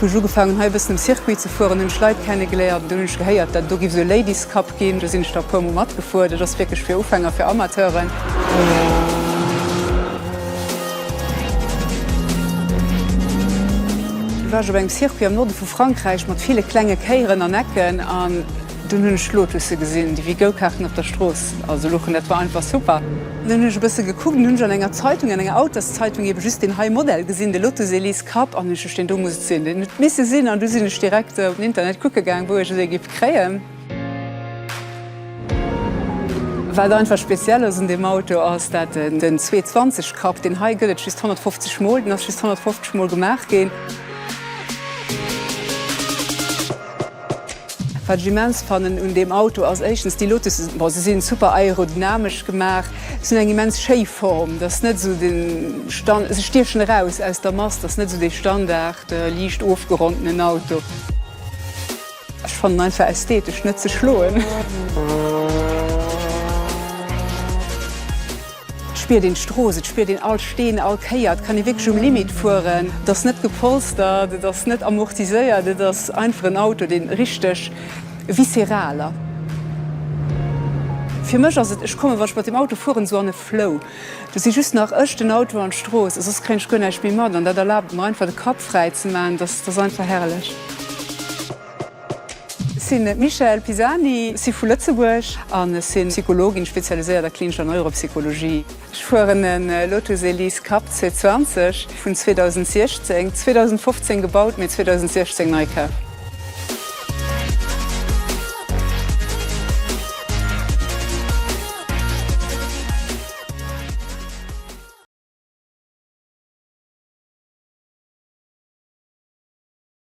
Hu ech ugefaangen hei e bëssen um Circuit ze fueren, hunn ech Leit kennegeléiert, dunn hunn ech gehéiert dat do giff esou e Ladies Cup ginn, do sinn ech da e puer mol matgefuer, dat ass wierklech fir Ufänger, fir Amateuren. Do war ech op engem Circuit am Norde vu Frankräich mat ville klenge Kéieren an Ecken an dunn hunn ech Lotusse gesinn, déi wéi Go-Karten op der Strooss also luchen, dat war einfach super. Dunn hunn ech e bësse gekuckt an hunn ech an enger Zeitung, an enger Autos-Zeitung ebe just deen hei Modell gesinn, de Lotus Elise. Kapp an hunn ech deen do, muss et sinn, deen huet et misse sinn, an du sinn ech direkt op den Internet kucke gaang, wou ech esou ee géif kréien. Wat einfach speziell ass un deem Auto ass dat en den 220 Kapp, deen hei gëtt et just 150 mol, deen ass just 150 mol gemaach ginn. Wat ech immens fannen un deem Auto ass éischtens déi Lotussen, bon se sinn super aerodynamesch gemaach, se hunn eng immens schéi Form, dat ass net esou de Stand, se stiechen eraus aus der Mass, dat ass net esou dee Standard liicht ofgerondenen Auto. Ech fannen en einfach ästhetesch net ze schloen. Et spiert een d'Strooss, et spiert een all Steen, all Kéier. Et kann ee wierklech um Limit fueren. Et ass net gepolstert, et ass net amortiséiert, et ass einfach en Auto, deen richteg visceral ass. Fir mech ass et, ech kommen, wann ech mat deem Auto fueren, esou an e Flow. Do si just nach ech, den Auto an d'Strooss a soss kréien ech guer näischt méi mat. An dat erlaabt et mer einfach, de Kapp fräi ze maachen. Et ass einfach herrlech. Ech sinn d'Michèle Pisani, si vu Lëtzebuerg an ech sinn Psychologin, spezialiséiert a klinischer Neuropsychologie. Ech fueren e Lotus Elise Cup 220 vun 2016, 2015 gebaut, mee 2016 nei kaf.